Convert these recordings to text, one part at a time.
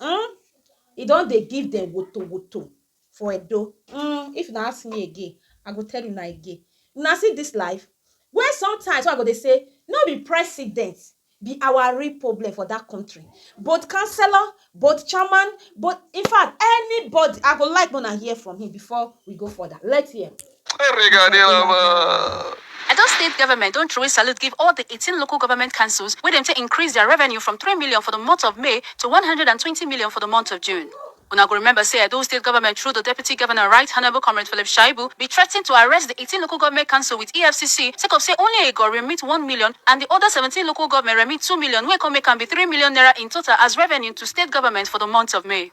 um e don dey give dem wotowoto for Edo um if una ask me again I go tell una again una see this life wey sometimes wey I go dey say no be president be our real problem for that country both councillor both chairman both infact anybody I go like make una hear from him before we go further let's hear. Edo State Government don throway salute give all the eighteen local government councils wey dem take increase their revenue from three million for the month of May to one hundred and twenty million for the month of June. Una go remember say Edo State Government through the Deputy Governor Right Honourable Comrade Philip Shaibu be threaten to arrest the eighteen local government council with EFCC sake of say only Egor remit one million and the other seventeen local government remit two million wey come make am be three million naira in total as revenue to State Government for the month of May.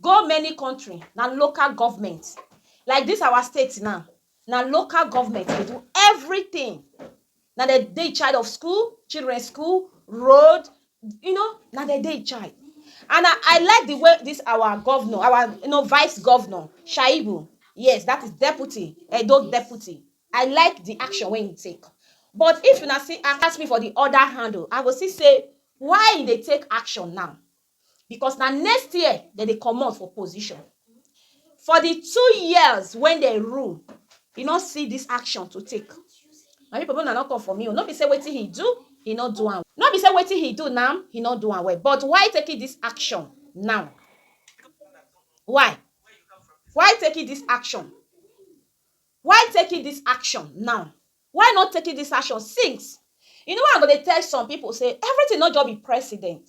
Go many country na local government like this our state now na local government dey do everything na dem dey in charge of school children school road you know na dem dey in charge and na I like the way this our governor our you know vice governor shaibu yes that is deputy edo deputy I like the action wey him take but if una see ask me for the other hand o I go still say why him dey take action now because na next year dem dey comot for position for di two years wen dem rule e no see dis action to take my pipo make una no come for me o no be say wetin he do he no do am no be say wetin he do now he no do am well but why taking dis action now why why taking dis action why taking dis action now why not taking dis action since you know why I go dey tell some pipo say everything no just be president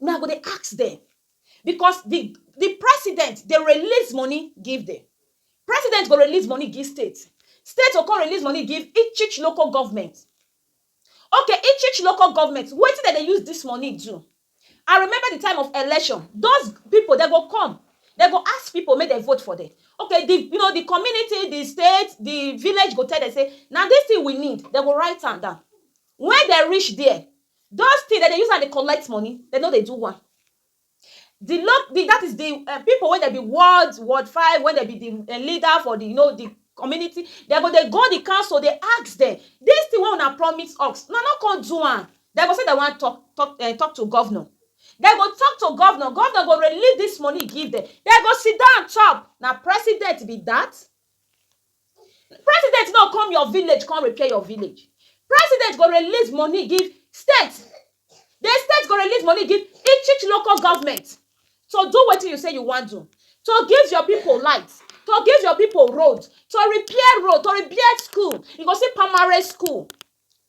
Me I go dey ask dem because the the president dey release money give dem president go release money give state state go come release money give each each local government okay each each local government wetin dem dey use this money do I remember the time of election those people dem go come dem go ask people make dem vote for dem okay the you know the community the state the village go tell dem say na this thing we need dem go write am down when dem reach there Those things dem dey use am dey collect money dem no dey do one the loc the that is the um people wey dem be ward ward five wey dem be the um leader for the you know the community dem go dey go the council dey ask dem this thing wey una promise us una no come do am dem go say dem wan talk talk um talk to governor dem go talk to governor, governor go release this money give dem dem go sit down chop na president be that President no come your village come repair your village. President go release money give state. The state go release money give each each local government to do wetin you say you wan do. To give your people light, to give your people road, to repair road, to repair school. You go see primary school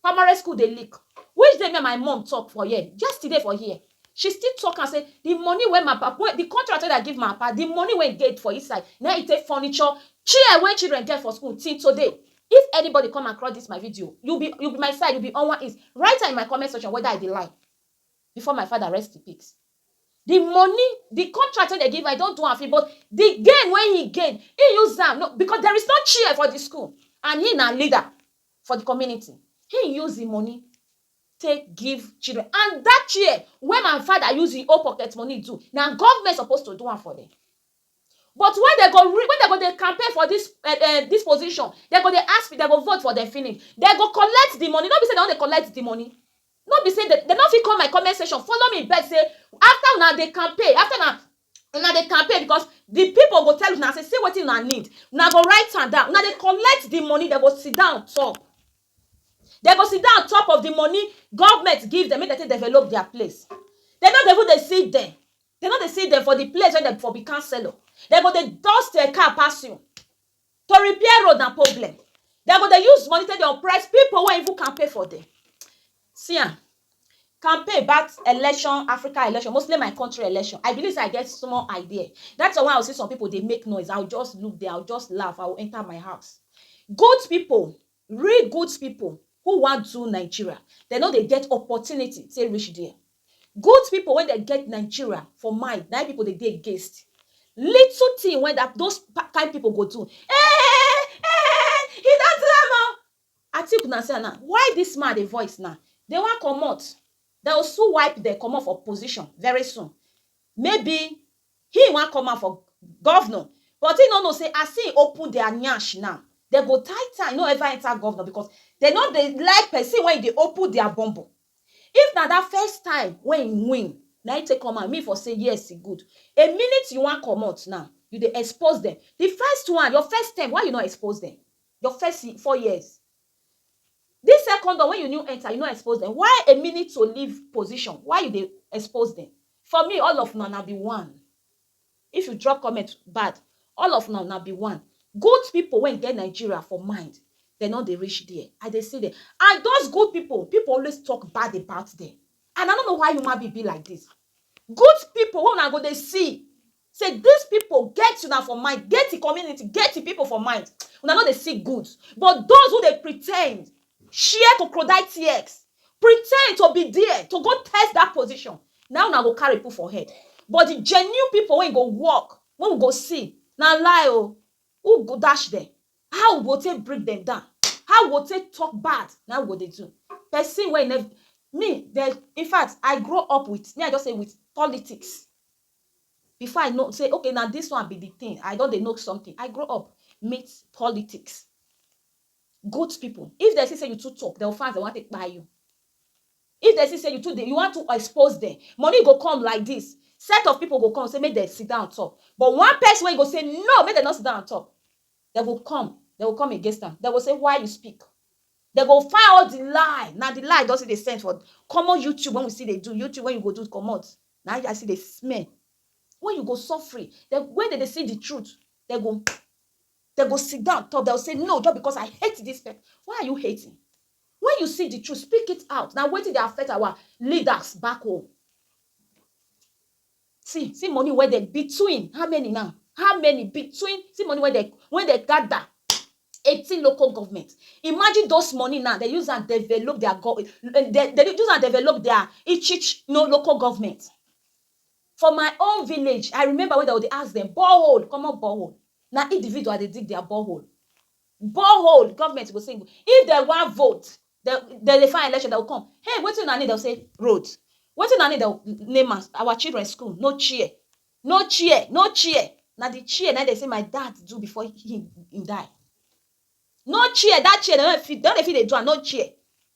Primary school dey leak which day me and my mum talk for here yesterday for here she still talk am say the money wey my papa wey the contract wey I give my papa the money wey dey for inside na him he take furniture chair wey children get for school till today if anybody come across this my video you be you be my side you be owan is write am in my comment section whether I dey lie before my father rest in peace the money the contract wey dem give am he don do am finish but the gain wey he gain he use am no because there is no chair for the school and he na leader for di community. Him use him money take give children and dat chair wey my father use him own pocket money do na government suppose to do am for dem but when dem go when dem go dey campaign for dis um dis position dem go dey ask dem go vote for dem finish dem go collect di money no be sey dem no dey collect di money no be sey dem no fit come my comment section follow me beg sey after una dey campaign after una una dey campaign because the people go tell una say see wetin una need una go write am down una dey collect the money dem go sit down on top dem go sit down on top of the money government give dem make dem take develop their place dem no go even dey see dem dem no dey see dem for the place wey dem for be councillor dem go dey dust um car pass you To repair road na problem, dem go dey use money take dey oppress pipu wey even campaign for dem. See am, campaign bout election, Africa election, mostly my country election, I believe sey I get small idea, dat one wey I go see some pipu dey make noise, I go just look dem, I go just laugh, I go enter my house. Good pipu Real good people who wan do Nigeria dem no dey get opportunity take reach there. Good people wey dem get Nigeria for mind na im people dey dey against. Little thing wey that those kind people go do eeh eeh he don do am oh. I think una see am now why this man dey voice now dem wan comot dem go soon wipe dem comot for position very soon maybe He wan come out for governor but he no know say as he open their nyash now, dem go tie tie no ever enter governor because dem no dey like person wey dey open their bum bum. If na that first time wey he win na him take come out, me for say yes e good. A minute you wan comot now, you dey expose dem. The first one, your first term why you no expose dem? Your first four years. This second door wey you new enter you no expose dem why a minute to leave position why you dey expose dem for me all of una na be one if you drop comment bad all of una na be one good people wey get Nigeria for mind dem no dey reach there I dey see dem and those good people people always talk bad about dem and I no know why human being be like this good people wey una go dey see Say this pipo get una for mind, get e community, get e pipo for mind, una no dey see good but those who dey pretend, share cocrodile tears, pretend to be there to go test that position na una go carry put for head but the genuine pipo wey go work wey we go see na lie o, who go dash dem, how we go take bring dem down, how we go take talk bad na we go dey do, person wey e nev, me dem infact I grow up with, me I just say with politics. Before I know say okay na this one be the thing, I don dey know something, I grow up meet politics, good people, if dem see say you too talk dem go fast dem wan take kpai you, if dem see say you too dey, you wan too expose dem, money go come like this, set of people go come say make dem sit down on top, but one person wey go say no make dem no sit down on top, dem go come, dem go come against am, dem go say why you speak, dem go find all the lie, na the lie you don see dey send for common YouTube wey we still dey do, YouTube wey you go do comot. Na I see dey smell wey you go suffering dem wey dem dey see the truth dem go dem go sit down talk dem go say no just because I hate this person why are you hating when you see the truth speak it out na wetin dey affect our leaders back home see see money wey dem between how many now how many between see money wey dem wey dem gather eighteen local government imagine those money now dem use am develop their go dem dey use am develop their each each no local government for my own village i remember when dem go dey ask dem borehole commot borehole na individual dey dig their borehole borehole government go say if dem wan vote dem dem dey find election dem go come hey wetin una need dem go say road wetin una need dem go name am our children school no chair No chair, no chair, na the chair na im dem say my dad do before him him die. No chair, that chair dem no dey fit dem no dey fit dey do am, no chair.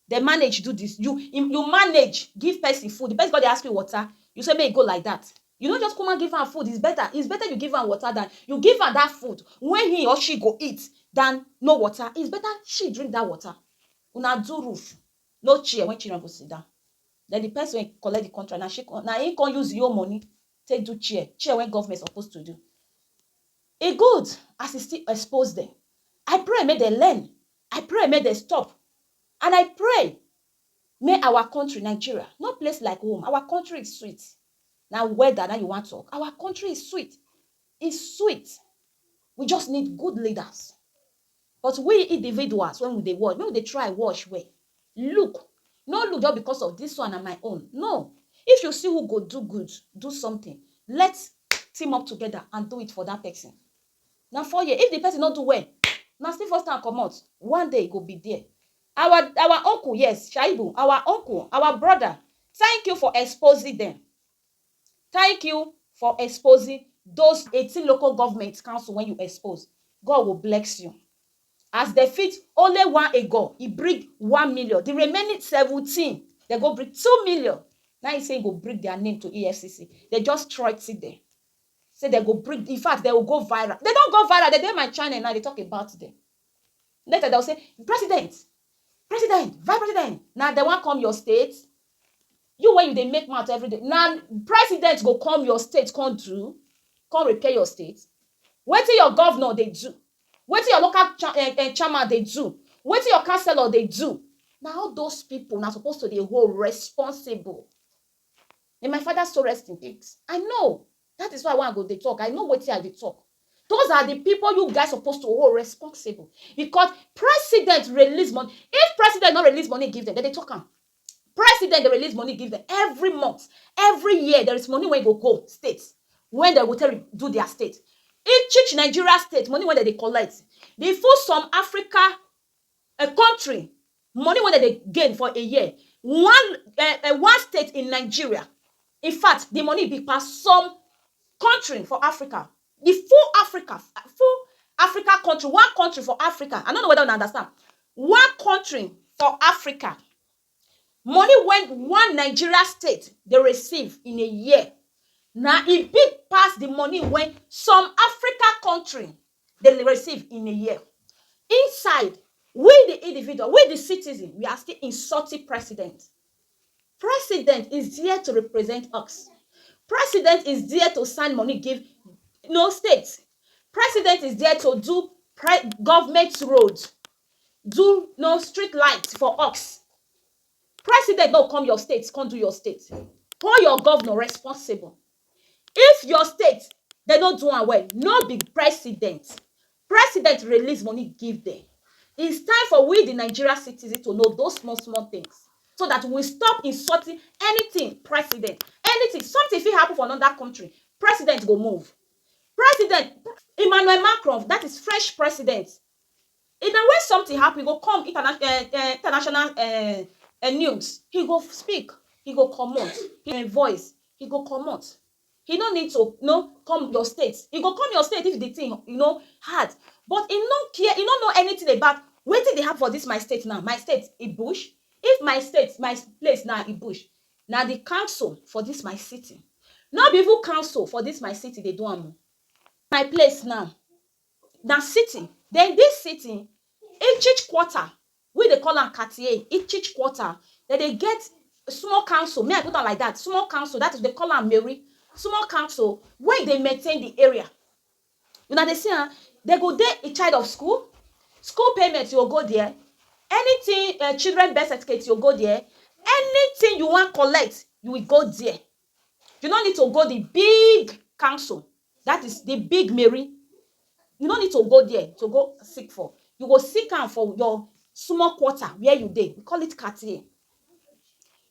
Dem manage do this, you im you manage give person food, the person come dey ask you water, you say make e go like that. You no just kukuma give am food, it's better, it's better you give am water than you give am that food wey he or she go eat than no water, it's better she drink that water. Una do roof, no chair wey children go sit down then the person wey collect the contract na she come na him come use him own money take do chair chair wey government suppose to do e good as e still expose them I pray make dem learn I pray make dem stop and I pray make our country Nigeria no place like home our country is sweet na weather na him you wan talk our country is sweet E sweet we just need good leaders but we individuals when we dey watch make we dey try watch well look no look just because of this one na my own no if you see who go do good do something let team up together and do it for that person na four year if the person no do well na still first time comot one day e go be there our our uncle yes shaibu our uncle our brother thank you for exposing them. Thank you for exposing those eighteen local government council wen you expose God go blex you as dem fit only one ego e bring one million the remaining seventeen dem go bring two million na im say im go bring their name to EFCC dem just threaten dem say dem go bring infact dem go go viral dem don go viral dem dey my channel now dey talk about dem Later dem say, president, president, vice president, na dem wan come your state? You wey you dey make mouth everyday, na president go come your state come do, come repair your state? Wetin your governor dey do? Wetin your local cha eh eh chairman dey do? Wetin your councillor dey do? Na all those people una suppose to dey hold responsible. May my father soul rest in peace. I know That is why wen I go dey talk I know wetin I dey talk those are the people you guys suppose to hold responsible because president release money if president no release money give them dem dey talk am president dey release money give them every month every year there is money wey go go state when dem go take do their state each each Nigeria state money wey dem dey collect the full some Africa a country money wey dem dey gain for a year one eh, eh, one state in nigeria in fact the money big pass some country for africa the full africa full africa country one country for africa i no know whether una understand one country for africa money wey one nigeria state dey receive in a year na e big pass the money wey some africa country dey receive in a year inside we di individual we di citizen we are still insulting president president is there to represent us president is there to send money give no state president is there to do pre government road do no street light for us president no come your state come do your state hold your governor responsible If your state dem no do am well no be president president release money give dem is time for we the Nigeria citizen to know those small small things so that we stop insulting anything president anything something fit happen for another country president go move president Emmanuel Macron that is French president If na wen something happen, he go come interna eh eh international eh eh news, he go speak, he go comot, he voice, he go comot. He no need to no come your state. He go come your state if the thing you know hard. But he no care, he no know anything about wetin dey happen for dis my state now. My state e bush? If my state, my place now e bush, na the council for dis my city. No be even council for dis my city dey do am o. My place now. na sitting den dis sitting each quarter we dey call am katie each quarter dem dey get small council me I put am like dat small council dat is dem call am meri small council wey dey maintain di area una dey see am dem go dey in charge of school school payment you go go dere anytin children birth certificate you go go dere anytin you wan collect you will go dere You no need to go di big council, dat is, di big meri, you no need to go dia to go seek for, you go seek am for your small quarter where you dey, we call it katie.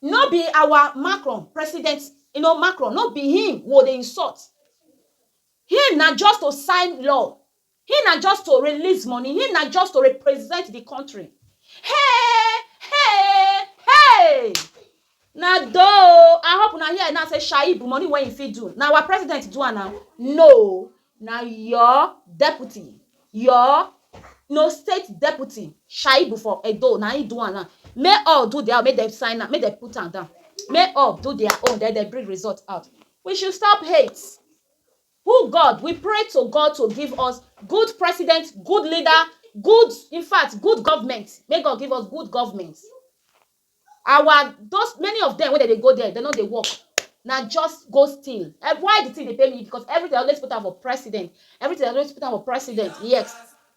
No be our Macron, president, you know Macron, no be him we go dey insult, him na just to sign law Him na just to release money, him na just to represent the country. Hey, hey, hey! Na though I hope una hear now say Shaib money wey he fit do. Na our president do am now. No, na your deputy, your no state deputy Shaib for Edo na him do am now. Make all do their own, make dem sign am, make dem put am down. Make all do their own, then dem bring result out. We should stop hate. Who God we pray to God to give us good president good leader good in fact good government make God give us good government our those many of them wey dem dey go there dem no dey work na just go steal Eh, why the thing dey pay me because everything I always put am for president everything I always put am for president yes